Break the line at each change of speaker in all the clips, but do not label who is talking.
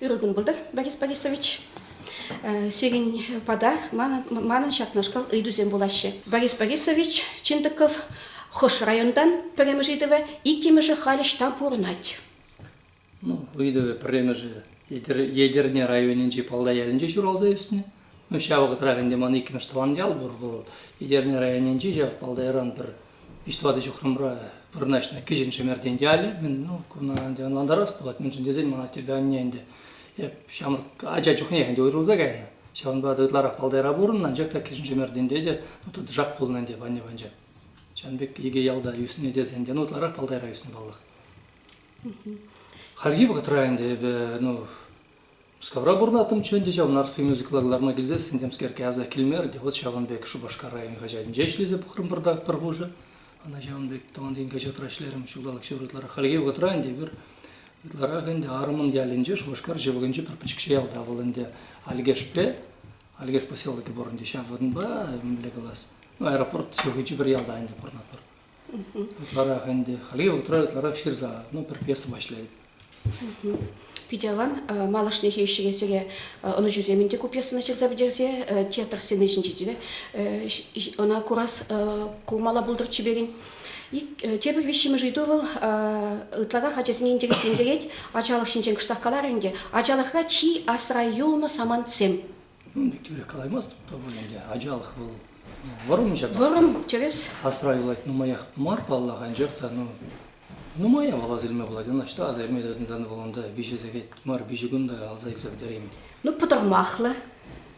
Ырӑлтын пултӑр, Борис Борисович. Сирӗн пата манӑн ҫакнашкал ыйтусем пулаҫҫӗ. Борис Борисович Чинтыков хӑш районтан пӗрремӗш ыйтӑва, иккӗмӗшӗ халь ӑҫта пурӑнать?
ыйтӑвӗ пӗрремӗшӗ Етӗрне районӗнчи Палтай ялӗнче ҫуралса ӳснӗ. Ну, ҫав вӑхӑтрах ӗнтӗ ман иккӗмӗш тӑван ял пур. Вӑл Етӗрне районӗнчи ҫав Палтайран пӗр виҫ-тӑватӑ ҫухрӑмра вырнаҫнӑ Кӗҫӗн Шемертен ялӗ. Мӗн, ну, куна ӗнтӗ ӑнлантарас пулать, мӗншӗн тесен ман аттепе анне ӗнтӗ эп ҫамрӑк ача чухнех ӗнтӗ уйрӑлса кайнӑ. Ҫавӑнпа та ытларах Палтайра пурӑннӑ, анчах та Кӗҫӗн Шемертенте те ну, тӑтӑшах пулнӑ ӗнтӗ анне панча. Ҫавӑн пек икӗ ялта ӳснӗ тесен те ну, ытларах Палтайра ӳснӗ паллах. Хальхи вӑхӑтра ӗнтӗ эпӗ ну, Мускавра пурӑнаттӑмччӗ ӗнтӗ ҫав Нарспи мюзикла кӑларма килсессӗн темскерке аса килмерӗ те вот ҫавӑн пек Шупашкар район хаҫатӗнче ӗҫлесе пӑхрӑм пӗртак пӗр хушӑ. Ӑна ҫавӑн пек тӑван ен хаҫатра ӗҫлерӗм ҫулталӑк ҫывӑр ытларах. Хальхи вӑхӑтра ӗнтӗ эпир ытларах ӗнтӗ Арӑмӑн ялӗнче Шупашкар ҫывӑхӗнчи пӗр пӗчӗкҫӗ ялта вӑл ӗнтӗ Альгешпе Альгеш поселокӗ пур ӗнтӗ ҫав вырӑнпа мӗнле калас ну, аэропорт ҫывӑхӗнчи пӗр ялта ӗнтӗ пурӑнатпӑр. Ытларах ӗнтӗ, хальхи вӑхӑтра ытларах ҫырса, ну, професси пуҫлать. Питӗ аван.
Малашнехи ӗҫчӗхе ӑнӑҫусем ӗнтӗ ку пьесӑна ҫырса пӗтерсе театр сцени ҫинче те ӑна курас кулмала пултӑр чиперен. Тепӗр виҫҫӗмӗш ыйту вӑл ытларах ачасене интереслентерет. Ачалӑх ҫинчен кӑштах каларӗ ӗнтӗ. Ачалӑхра чи асра юлнӑ самантсем. Ну, тӳрех
калаймастӑп та пуль ӗнтӗ. Ачалӑх вӑл вӑрӑмҫӑ та. Вӑрӑм, тӗрӗс.
Асра юлать нумаях
мар, паллах, анчах та ну нумая вӑл асилме пулать. Ӑнӑҫта асилме тытӑнсан вӑл унта виҫӗ сехет мар, виҫӗ кун та алса илсе пӗтереймӗн. Ну, пӑтӑрмахлӑ.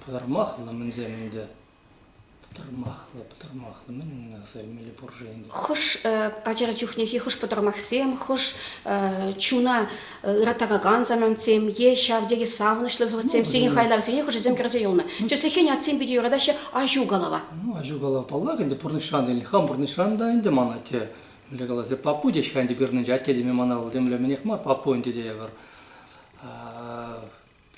Пӑтӑрмахлӑ
мӗнсем ӗнтӗ. Пӑтӑрмахлӑ, пӑтӑрмахлӑ. Мӗн аса илмелле пур-ши ӗнтӗ? Хӑш
ачара чухнехи хӑш пӑтӑрмахсем, хӑш чуна ыратакан самантсем е ҫав тери савӑнӑҫлӑ вӑхӑтсем, сиен хайлавсене хӑшӗсем кӗрсе юлнӑ. Тӗслӗхрен, атьсем питӗ юратаҫҫӗ аҫу калава. Ну, аҫу калав, паллах,
ӗнтӗ пурнӑҫран илнӗ. Хам пурнӑҫран та ӗнтӗ ман атте, мӗнле калас, папу теҫ-ха ӗнтӗ пирӗннӗнче. Атте теме мана вӑл темле мӗнех мар, папу ӗнтӗ тейӗпӗр.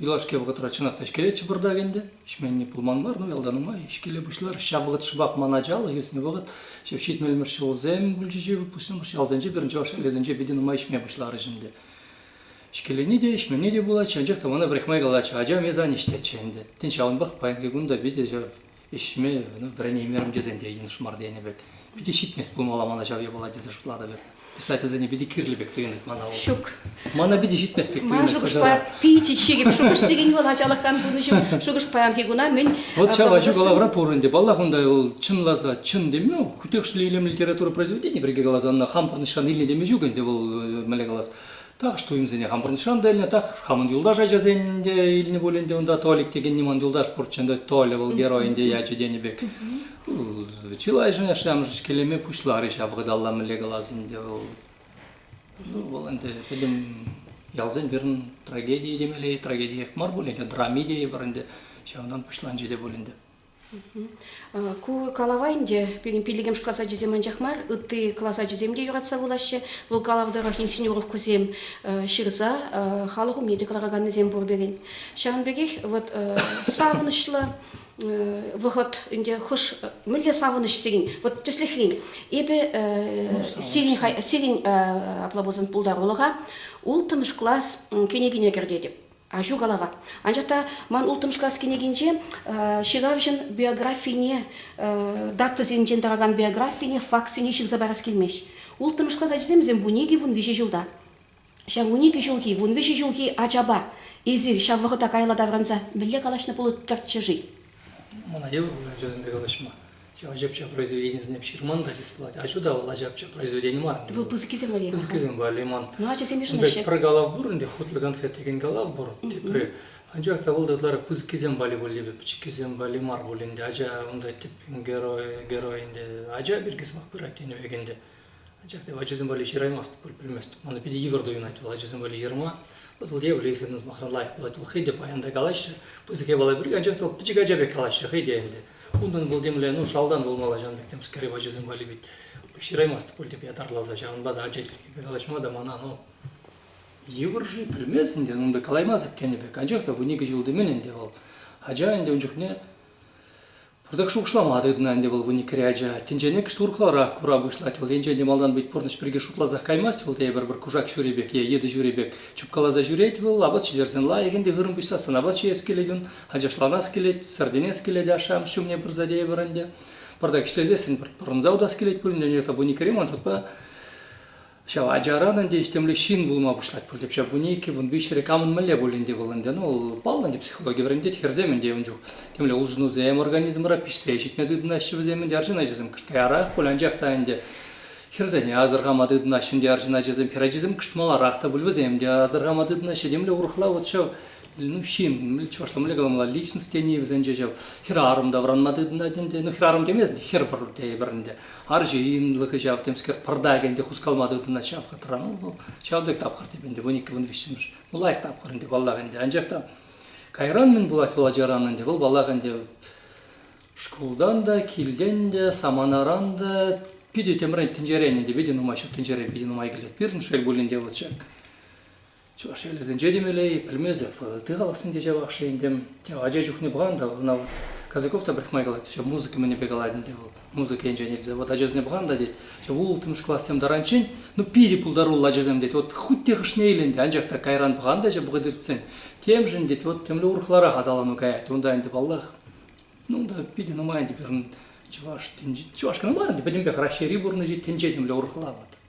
Юлашки вӑхӑтра чӑнах та ӗҫкелетчӗ пӑртак ӗнтӗ. Ҫӗнни пулман мар, ну ялта нумай ӗҫкеле пуҫлар. Ҫав вӑхӑт шӑпах ман ачаллӑ ӳснӗ вӑхӑт. Ҫав ҫитмӗлмӗш ҫулсем пулчӗҫ-и выпускнӑмӑр ялсенче, пирӗн чӑваш ҫӗршывӗсенче питӗ нумай ӗҫме пуҫларӗҫ ӗнтӗ. Ӗҫкелени те, ӗҫмени те пулать, анчах та мана пӗрехмай калатчӗ, ачам эс ан ӗҫтеччӗ ӗнтӗ. Тен, ҫавӑнпах паянхи кун та питӗ ҫав ӗҫме вӗренеймерӗм тесен те йӑнӑш мар тенӗ пек. Питӗ ҫитмест пулмалла мана ҫав япала тесе шутлатӑп эп. Писательсене питӗ кирлӗ пек туйӑнать мана вӑл. Ҫук. Мана
питӗ ҫитмест
пек туйӑнать. Ман шухӑшпа
питӗ ҫекӗп. Шухӑшсекен вӑл ачалӑхран пурнӑҫӑм. Шухӑш паянхи куна мӗн. Вот ҫав ачу калавра
пур ӗнтӗ. Паллах, унта вӑл чӑнласа чӑн теме, хутехшлӗ илемлӗ литература произведени, пирки каласан, хамӑр пурнӑҫран илнӗ теме ҫук ӗнтӗ вӑл, мӗнле калас. Так что имсене хамӑрӑн шам та илнӗ, так хамӑн юлташ ачасен те илнӗ пуль ӗнтӗ унта. Толик текен ниман юлташ пурччен та Толя вӑл герой ӗнтӗ ячӗ тенӗ пек. Чылайшӑн ашшӗ-амӑшӗ ҫкелеме пуҫларӗ ҫав ыталла мӗнле калас ӗнтӗ вӑл. Ну, вӑл ӗнтӗ пӗтӗм ялсен пирӗн трагедийӗ темелле, трагедиех мар пуль ӗнтӗ, драми те пӗр ӗнтӗ, ҫавӑнтан пуҫланчӗ те пуль ӗнтӗ.
Ку калава ӗнтӗ пирӗн пиллӗкмӗш класс ачисем анчах мар, ытти класс ачисем те юратса вулаҫҫӗ. Вӑл калав тӑрӑх инсценировкӑсем ҫырса халӑх умне те кӑлараканнисем пур пирӗн. Ҫавӑн пекех вот савӑнӑҫлӑ вӑхӑт ӗнтӗ хӑш мӗнле савӑнӑҫ сирӗн вот тӗслӗхрен эпӗ сирӗн сирӗн апла пулсан пултарулӑха улттӑмӗш класс кӗнекине кӗртетӗп Аҫу калава. Анчах та ман улттӑмшкас кӗнекинче ҫыравҫӑн биографине, датӑсенчен тӑракан биографине, фактсене ҫырса парас килмест. Улттӑмшкас ачасемсем вун икӗ, вун виҫӗ ҫулта. Ҫав вун икӗ ҫулхи, вун виҫӗ ҫулхи ачапа эсир ҫав вӑхӑта каялла таврӑнса мӗнле калаҫнӑ пулӑттӑрччӗ-ши? Мана
йывӑр пуль ачасемпе калаҫма. ачапча произведенисене ҫырман та листовать. А сюда вӑл ачапча произведени мар. Вӑл пысӑкисем валли мар.
Пысӑкисем валли мар. Ну,
ачасем йышӑнаҫҫӗ. Пӗр
калав пур ӗнтӗ, хутор
конфет текен калав пур, тепри. Анчах та вӑл та ытларах пысӑккисем валли пуль типӗ, пӗчӗккисем валли мар пуль ӗнтӗ. Ача унта тӗп герой, герой ӗнтӗ, ача пирки сӑмах пырать тенӗ пек ӗнтӗ. Анчах та ачасем валли ҫыраймасть, пӗлмест. Мана питӗ йывӑр туйӑнать вӑл ачасем валли ҫырма. Вӑл евӗр, если на сӑмахран лайӑх пулать, вӑл хӑй те паян та калаҫҫӗ, пысӑк япала пирки, анчах та вӑл пӗчӗк ача пек калаҫҫӗ хӑй те ӗнтӗ. Унтан вӑл темле, ну, шалтан пулмалла ҫавӑн пек темскер ачасем валли вӗт. Ҫыраймасть пуль тӗпе атарласа, ҫавӑнпа та ача тиркепе калаҫма та мана, ну, йывӑр-ши, пӗлмест ӗнтӗ, ун пек калаймасӑр тенӗ пек. Анчах та вун икӗ ҫул темен ӗнтӗ вӑл. Ача ӗнтӗ ун чухне Пӑртак шухӑшлама тытӑнӑ ӗнтӗ вӑл вуниккӗре ача. Тӗнченеккӗш урӑхларах кура пуҫлать вӑл. Енчен те малтан пит пурнӑҫ пирки шутласах каймасть вӑл тейӗпӗр пӗр кушак ҫури пек е йытӑ ҫури пек чупкаласа ҫӳрет вӑл. Апат ҫитерсен лайӑх ӗнтӗ хырӑм пуҫсассӑн апат ҫиес килет ун. Ачашланас килет, сӗртӗнес килет ашшӗ-амӑш ҫумне пырса тейӗпӗр ӗнтӗ. Пӑртак ӗҫлесессӗн пӑрӑнса утас килет пулин те вуниккӗре ман шутпа Ҫав ачаран ӗнтӗ ӗҫтемлӗ ҫын пулма пуҫлать пуль тӗпчев пуне иккӗн, вун виҫҫӗре кам ӗнмелле пуль ӗнтӗ вӑл ӗнтӗ? Ну, паллӑ ӗнтӗ психологи вӗрентет, хӗрсем ӗнтӗ ун чух темле улшӑнусем организмра пиҫсе ҫитме тытӑнаҫҫӗ вӗсем ӗнтӗ арҫын ачасем. Кӑштаярах пуль анчах та ӗнтӗ хӗрсене асӑрхама тытӑнаҫҫӗ ӗнтӗ арҫын ачасем, хӗр ачасем кӑшт маларах та пуль вӗсем те асӑрхама тытӑнаҫҫӗ. Темле урӑхла вот ҫав ну, ҫын, чӑвашла мӗнле каламалла, личность тени вӗсенче ҫав хӗрарӑм тавранма тытӑнать ӗнтӗ. Ну, хӗрарӑм темест, хӗр пур тейӗпӗр ӗнтӗ. Арҫынлӑхӗ ҫав, темскер, пӑртак ӗнтӗ хускалма тытӑнать ҫав хатра. Ну, вӑл ҫав пек тапхӑр теймӗн ӗнтӗ, вун иккӗ, вун виҫҫӗмӗш. Ну, лайӑх тапхӑр ӗнтӗ, паллах ӗнтӗ. Анчах та кайран мӗн пулать вӑл ачаран ӗнтӗ? Вӑл, паллах ӗнтӗ, шкултан та, килтен те, саманаран та питӗ темрен тӗнчерен ӗнтӗ, питӗ нумай ҫут тӗнчере питӗ нумай килет. Пирӗн шел пулин те вот ҫак Чӑваш ялӗсенче темелле-и, пӗлмесӗр. Ти халӑхсенче ҫавах-ши ӗнтӗ, тев ача чухне пӑхан та ӑна вот Казаков та пӗрехмай калать, ҫав музыка мӗнӗпе калать ӗнтӗ вӑл, музыка енчен илсе. Вот ачасене пӑхан та тет, ҫав улттӑмӗш классем таранччен, ну питӗ пултаруллӑ ачасем тет, вот хуть те хӑшне илен те, анчах та кайран пӑхан та ҫав вӑхӑт иртсен, темшӗн тет, вот темле урӑхларах аталану каять. Унта ӗнтӗ паллах, ну та питӗ нумай ӗнтӗ пирӗн чӑваш тӗнчи, чӑваш кӑна мар ӗнтӗ, пӗтӗмпех Раҫҫейри пурнӑҫӗ тӗнче темле урӑхла вот.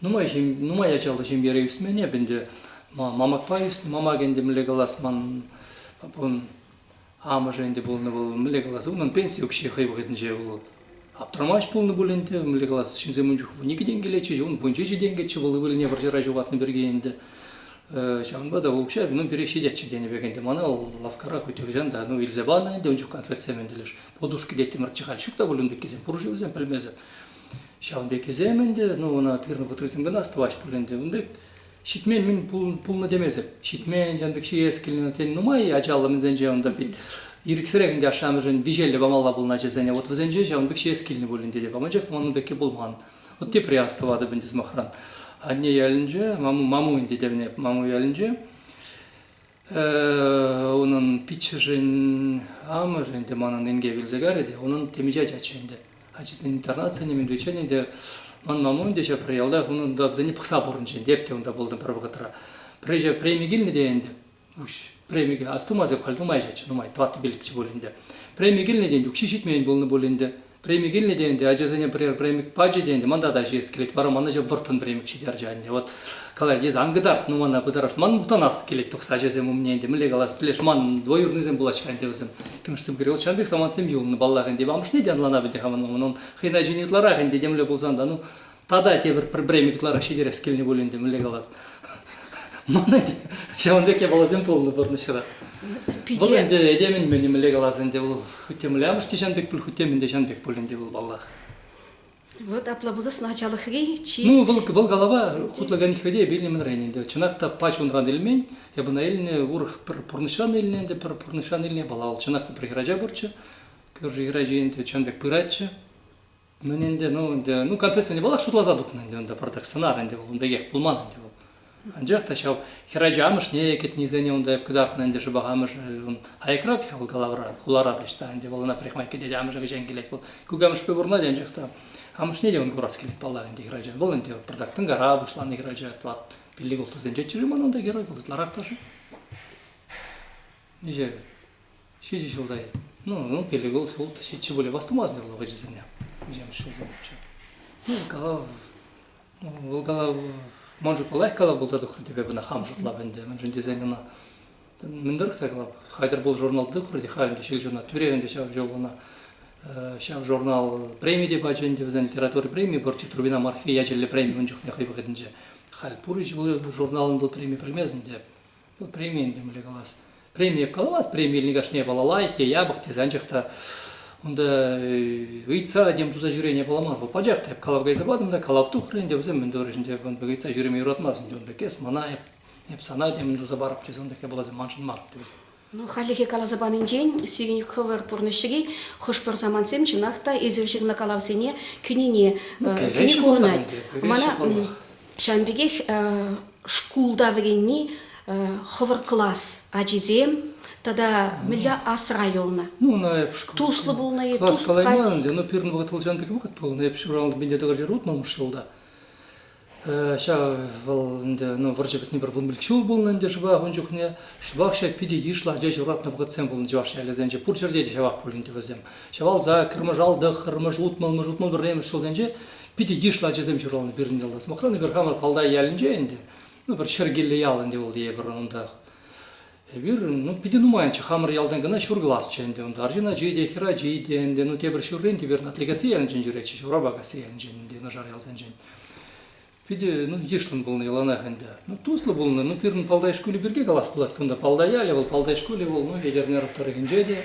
Нумай, ҫем, нумай ачаллӑ ҫемьере ӳсмен эп ӗнтӗ. Мамакпа ӳснӗ. Мамак ӗнтӗ мӗнле калас, ман папун амӑшӗ ӗнтӗ пулнӑ вӑл. Мӗнле калас, унӑн пенси укҫи хӑй вӑхӑтӗнче вӑл аптрамасть пулнӑ пуль ӗнтӗ. Мӗнле калас, ҫынсем ун чухне вун икӗ тенкӗлетчӗҫ, ун вун ҫичӗ тенкӗччӗ вӑл ывӑлне вӑрҫӑра ҫухатнӑ пирки ӗнтӗ. Ҫавӑнпа та вӑл укҫа унӑн тӳрех ҫитетчӗ тенӗ пек ӗнтӗ. Мана вӑл лавккара хӑй нихӑҫан та ну илсе панӑ ӗнтӗ ун чухне конфетсем ӗнтӗ леш. Подушки те тимӗрччӗ халь. Ҫук та пуль ун пеккисем пур-ши вӗсем, пӗлмесӗр. Ҫавӑн пеккисем ӗнтӗ, ну ӑна пирӗн вӑтӑрисем кӑна астӑваҫ пуль ӗнтӗ. Ун пек ҫитме мӗн пулнӑ темесӗр. Ҫитмен ҫавӑн пек ҫиес килнӗ тен нумай ачаллӑ мӗнсенче унтан пин ирӗксӗрех ӗнтӗ ашшӗ-амӑшӗн виҫеллӗ памалла пулнӑ ачасене. Вот вӗсенче ҫавӑн пек ҫиес килнӗ пуль ӗнтӗ те. Аманчах та манӑн пекки пулман. Вот тепре астӑватӑп ӗнтӗ сӑмахран. Анне ялӗнче, Маму, Маму ӗнтӗ тевне, Маму ялӗнче Унӑн пиччӗшӗн амӑшӗ ӗнтӗ манӑн инкек илсе кайрӗ те унӑн темиҫе ачаччӗ ӗнтӗ. Ачисен интернатсене мӗн ӳченӗ те ман мамам те ҫав пӗр ялтах унӑн та вӗсене пӑхса пурӑнчӗ ӗнтӗ эп те унта пултӑм пӗр вӑхӑтра. Пӗр ҫав преми килнӗ те ӗнтӗ уҫ премике астумас эп халь нумайччӗ нумай тӑваттӑ пилӗкчӗ пуль ӗнтӗ. Преми килнӗ те укҫи ҫитмен пулнӑ пуль ӗнтӗ Преми килнӗ те ӗнтӗ, ачасене пӗрер премик пачӗ те ӗнтӗ, манта та ҫиес килет, вара ман ача вӑрттӑн премик ҫитерчӗ анне. Вот калать, эсӗ ан кӑтарт, ну мана пытарать. Ман мухтанас килет тухса ачасем умне ӗнтӗ, мӗнле калас, пӗлеш, ман двоюроднӑйсем пулаҫ-ха ӗнтӗ вӗсем. Кӗмӗшсем кӗрет, ҫавӑн пек самантсем юлнӑ, паллах ӗнтӗ. Амӑшне те ӑнланап ӗнтӗ хамӑн маман, он хӑйна ҫине ытларах ӗнтӗ, темле пулсан та, ну, Тата тепӗр пӗр преми ытларах ҫитерес килнӗ пуль ӗнтӗ, мӗнле калас. Мана те ҫавӑн пек япаласем пулнӑ пурнӑҫра. Вӑл ӗнтӗ этемӗн-мӗнӗ мӗнле калас ӗнтӗ, вӑл хутемле амӑшне ҫан пек пуль, хутемӗн те ҫан пек пуль ӗнтӗ вӑл, паллах. Вот
апла пулсассӑн ачалӑхри чи... Ну, вӑл, вӑл калава
хутлакан хвете эпӗ илнӗ-мӗнрен ӗнтӗ. Чӑнах та пач унран илмен, эп ӑна илнӗ, урӑх пӗр пурнӑҫран илнӗ ӗнтӗ, пӗр пурнӑҫран илнӗ япала. Вӑл чӑнах та пӗр хӗрача пурччӗ. Кӳрши хӗрачи ӗнтӗ чӑн пек пыратчӗ. Мӗн ӗнтӗ, ну ӗнтӗ, ну комплекс ӗнтӗ вӑл шутласа тупнӑ ӗнтӗ унта пӑртак сӑнар ӗнтӗ вӑл, ун пекех пулман ӗнтӗ вӑл. Анчах та ҫав хӗр ача амӑшне кӗтнисене унта кӑтартнӑ ӗнтӗ шӑпах амӑшӗ ун аякра-тӑк вӑл калавра, хулара та ӑҫта ӗнтӗ вӑл ӑна парикмахер кӗтет, амӑшӗ кӗҫен килет вӑл. Кукамӑшпе пурӑнать анчах та амӑшне те ун курас килет паллах ӗнтӗ хӗр ача. Вӑл ӗнтӗ пӑртак тӑнкара пуҫланӑ хӗр ача, тӑват пиллӗк улттӑсенчеччӗ-ши ман унта герой, вӑл ытларах та-ши? Миҫе? Ҫичӗ ҫулта, ну, ну перегол шкул ҫиччӗ пулӗ вастумастӑр вӑл ачасене, вӗсем шкулсем вообще. Ну, калав, ну, вӑл калав, ман шутпа лайӑх калав пулса тухрӗ тепе кӑна хам шутлап ӗнтӗ, мӗншӗн тесен ӑна мӗн тӑрӑх та калап, Хайтӑр пул журналта тухрӗ те халӗнче ҫилҫуна, тӳре ӗнтӗ ҫав ҫул ӑна ҫав журнал преми те пачӗ ӗнтӗ, вӗсен литература преми Борти Трубина Марфи ячӗллӗ преми ун чухне хӑй вӑхӑтӗнче. Халь пур-и ҫул журналӑн вӑл преми пӗлмест ӗнтӗ. Ну, премин темле калас. Преми калас, премилни кашне балалайхи, япӑх тесанчах та унта ыйтса тем туса ҫӳрене паламар. Вӑл пачах та эп калав кайса патӑм та калав тухрӗ ӗнтӗ вӗсем мӗн турӗҫ ӗнтӗ ун пек ыйтса ҫӳреме юратмасть ӗнтӗ ун пек эс мана эп эп сана темӗн туса парӑп тесе ун пек япаласем маншӑн мар тесе. Ну, хальлӗхе
каласа панинчен сирӗн хӑвӑр пурнӑҫри хӑш-пӗр самантсем чӑнах та эсир ҫырнӑ калавсене кӳнине ну, кӳни курӑнать. Мана Ҫавӑн пекех шкулта вӗренни хӑвӑр класс ачисем тата мӗнле асра юлнӑ. Ну, ӑна эп
Туслӑ пулнӑ-и, Класс
калайман ӗнтӗ, но
пирӗн
вӑхӑт вӑл
ҫавӑн пек вӑхӑт пулнӑ. Эп ҫуралнӑ пине тӑкӑрти рутмӑмӑш ҫулта. Ҫав вӑл ӗнтӗ, ну, вӑрҫӑ пӗтни пӗр вун пилӗк ҫул пулнӑ ӗнтӗ шӑпах ун чухне. Шӑпах ҫак питӗ йышлӑ ача ҫуратнӑ вӑхӑтсем пулнӑ чӑваш ялӗсенче. Пур ҫӗрте те ҫавах пуль ӗнтӗ вӗсем. Ҫавалса, кӗрмӗш-алтӑхӑрмӗш, утмӑл-мӗш, утмӑл пӗрремӗш ҫулсенче Питӗ йышлӑ ачасем ҫуралнӑ пирӗн ялта. Сӑмахран, эпир хамӑр Палтай ялӗнче ӗнтӗ. Ну, пӗр Ҫӗркеллӗ ял ӗнтӗ вӑл тейӗпӗр унтах. Эпир, ну, питӗ нумайччӗ. Хамӑр ялтан кӑна ҫур класчӗ ӗнтӗ унта. Арҫын ачи те, хӗр ачи те ӗнтӗ. Ну, тепӗр ҫуррен тепӗр Атликасси ялӗнчен ҫӳретчӗ, Ҫурапакасси ялӗнчен ӗнтӗ, юнашар ялсенчен. Питӗ, ну, йышлӑн пулнӑ яланах ӗнтӗ. Ну, туслӑ пулнӑ. Ну, пирӗн Палтай шкулӗ пирки калас пулать кунта. Палтай ялӗ вӑл, Палтай шкулӗ вӑл, ну, Етӗрнер тӑрӑхӗнче те.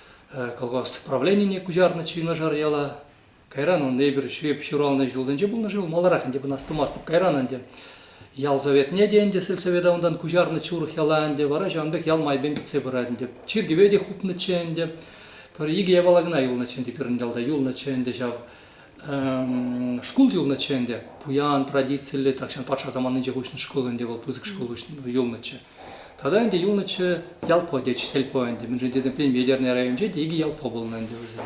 Кӑлкас правленине куҫарнӑччӗ юнашар яла. Кайран ӑн эпир ҫӳп ҫуралнӑ ҫулсенче пулнӑ шел, маларах ӗнтӗ пынас-тумастӑп кайран ӗнтӗ. Ял советне те ӗнтӗ сельсовета унтан куҫарнӑччӗ урӑх яла ӗнтӗ, вара ҫавӑн пек ял майӗпен кӗтсе пырать ӗнтӗ. Чиркӗве те хупнӑччӗ ӗнтӗ. Пӗр икӗ япала кӑна юлнӑччӗ ӗнтӗ пирӗн ялта, юлнӑччӗ ӗнтӗ ҫав Шкул юлнӑччӗ ӗнтӗ. Пуян, традициллӗ, тахҫан патша саманинче уҫнӑ шкул ӗнтӗ вӑл, пысӑк шкул юлнӑччӗ. Тата ӗнтӗ юлнӑччӗ Ялпо тет, Сельпо ӗнтӗ. Мӗншӗн тесен Премьернӑй районӗнче те икӗ Ялпо пулнӑ ӗнтӗ вӗсем.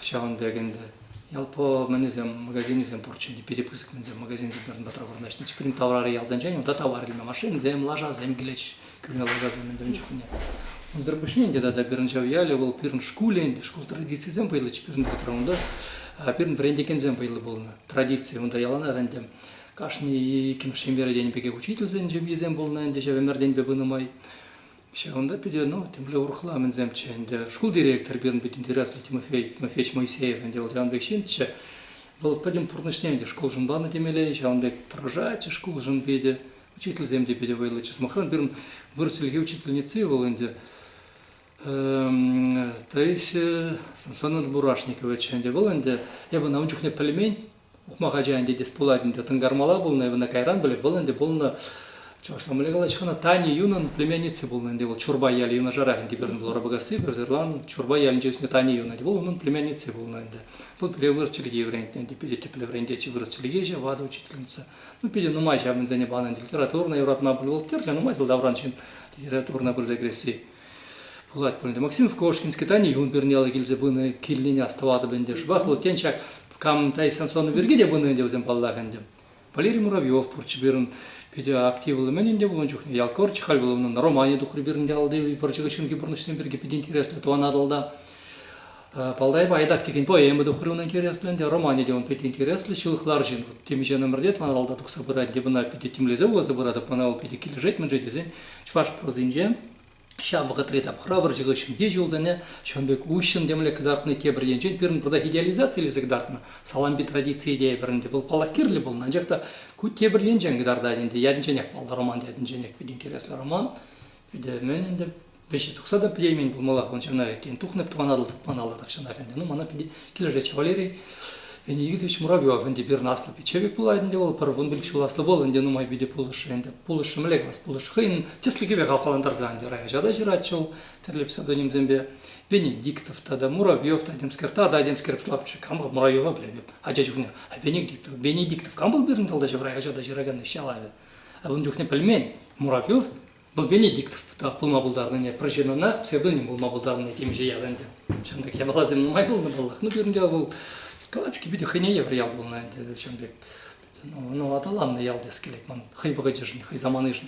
Ҫавӑн пек ӗнтӗ. Ялпо мӗнӗсем, магазинӗсем пурччӗ ӗнтӗ, питӗ пысӑк мӗнсем магазинсем пӗр-пӗр таврӑнаҫҫӗ. Пирӗн таврари ялсенчен унта тавар илме машинӑсем, лашасем килет. кӳренӗ лакаса мӗнтен чухне. Унсӑр пуҫне ӗнтӗ тата Перӗнҫав ялӗ вӑл пирӗн шкулӗ ӗнтӗ, шкул традицийӗсем вӑйлӑччӗ пирӗн ретра унта. Пирӗн вӗрентекенсем вӑйлӑ пулнӑ. Традици унта яланах ӗнтӗ. Кашни иккӗмӗш ҫемьер тенӗ пекех учительсен ҫемйисем пулнӑ ӗнтӗ ҫав ӗмӗртенпе пынӑ май. Ҫавӑнта питӗ, ну, темле урӑхла мӗнсемччӗ ӗнтӗ. Шкул директор пирӗн пит интереслӗ Тимофей, Тимофеевич Моисеев ӗнтӗ вӑл ҫавӑн пек ҫынччӗ. Вӑл пӗтӗм пурнӑҫне ӗнтӗ шкулшӑн панӑ темелле, ҫавӑн пек тӑрӑшатчӗ шкулшӑн питӗ. учительсем те питӗ вӑйлӑ. Сӑмахран, пирӗн вырӑс чӗлхи учительницы вӑл ӗнтӗ Таисия Санат-Бурашникова ӗнтӗ. Вӑл ӗнтӗ, эпӗ ӑна ун чухне пӗлмен, ухмах ача ӗнтӗ тес пулать ӗнтӗ. Тӑнкармала пулнӑ, эпӗ ӑна кайран пӗлеп. Вӑл ӗнтӗ пулнӑ чӑвашла мӗнле калаҫҫӗ хӑна, Таня Юнӑн племянницы пулнӑ ӗнтӗ. Вӑл Чурбай ялӗ юнашарах ӗнтӗ пирӗн Блоробогасси, Пӗрсӑрлан, Чурбай ялӗнче ӳснӗ Таня Юн ӗнтӗ. Вӑл унӑн племянницы пулнӑ ӗнтӗ. Вӑл пире вырӑс чӗлхи вӗрентнӗ ӗнтӗ, питӗ тӗплӗ вӗрентеҫҫӗ. Вырӑс чӗлхеҫӗ, ватӑ учительница. Ну, питӗ нумай ҫавӑнсене панӑ литературӑна юратма бухгалтерчӗ, нумай сӑлтавран ҫын литературӑна пырса кӗресси пулать пулин те. Максимов Кошкинский, Тани Юн пернеллӗ килсе пынӑ килнине астӑватӑп ӗнтӗ. Шӑпах вӑл, тен, ҫак Камтай Самсонов пирки те пынӑ ӗнтӗ вӗсем, паллах ӗнтӗ. Валерий Муравьев пурччӗ пирӗн питӗ активлӑ. Мӗн ӗнтӗ пулнӑ чухне Ялкор Чехаль вуланӑ романӗ тухрӗ пирӗнте алти вӑрҫӑ хыҫҫӑнхи пурнӑҫсем пирки питӗ интереслӗ тӑван Атӑлта. Палдай Байдак текен поэма тухрӗ унӑн интереслӗ ӗнтӗ, романӗ те ун питӗ интереслӗ, ҫылӑхлар ҫын. Вот темиҫе номерте тӑван алла тухса пырать, те мана питӗ тимлесе вуласа пыратӑп, мана вӑл питӗ килӗшет-мӗншӗн тесен чӑваш прозинче ҫав вӑхӑтри тапхӑра вӑрҫӑ хыҫҫӑнхи ҫулсене ҫавӑн пек уҫҫӑн темле кӑтартнӑ тепӗр енчен пирӗн пуртах идеализацилесе кӑтартнӑ салампи традицийӗ тейӗпӗр ӗнтӗ вӑл паллах кирлӗ пулнӑ анчах та ку тепӗр енчен кӑтартать ӗнтӗ ятӗнченех паллӑ роман ятӗнченех питӗ интереслӗ роман питӗ мӗн ӗнтӗ Веҫе тухса та пӗтеймен пулмаллах ун ҫавна, тен, тухнӑ Тӑван Атӑл тӑкманалла тахҫанах ӗнтӗ. Ну, мана пӗтӗ килӗшетчӗ Валерий Леонидович Муравьев ӗнтӗ пирӗн аслӑ пиччевик пулать ӗнтӗ вӑл, пӗр вун пилӗк ҫул аслӑ пул ӗнтӗ нумай питӗ пулӑшрӗ ӗнтӗ. Пулӑшрӗ мӗнле калас, пулӑшрӗ хӑйӗн тӗслӗхӗпе хавхалантарса ӗнтӗ районҫа та ҫыратчӗ вӑл тӗрлӗ псевдонимсемпе. Венедиктов тата Муравьев та темскерта та темскер лапчӑ кам вӑл Муравьева пӗлетӗп ача чухне. А Венедиктов, Венедиктов кам вӑл пирӗн тӑлтаҫӑвра ача та ҫыракан ӗҫ ялавӗ? А ун чухне пӗлмен, Муравьев Вӑл Венедиктов пулма пултарнине, пӗр ҫыннӑна псевдоним пулма пултарнине темиҫе ял ӗнтӗ. Ҫавӑн пек япаласем нумай пулнӑ паллах. Ну, пирӗн те вӑл калаҫу питӗ хӑйне евӗр ял пулнӑ ӗнтӗ ҫавӑн пек. Ну, ну аталаннӑ ял теес килет ман хӑй вӑхӑчӗшӗн, хӑй саманишӗн.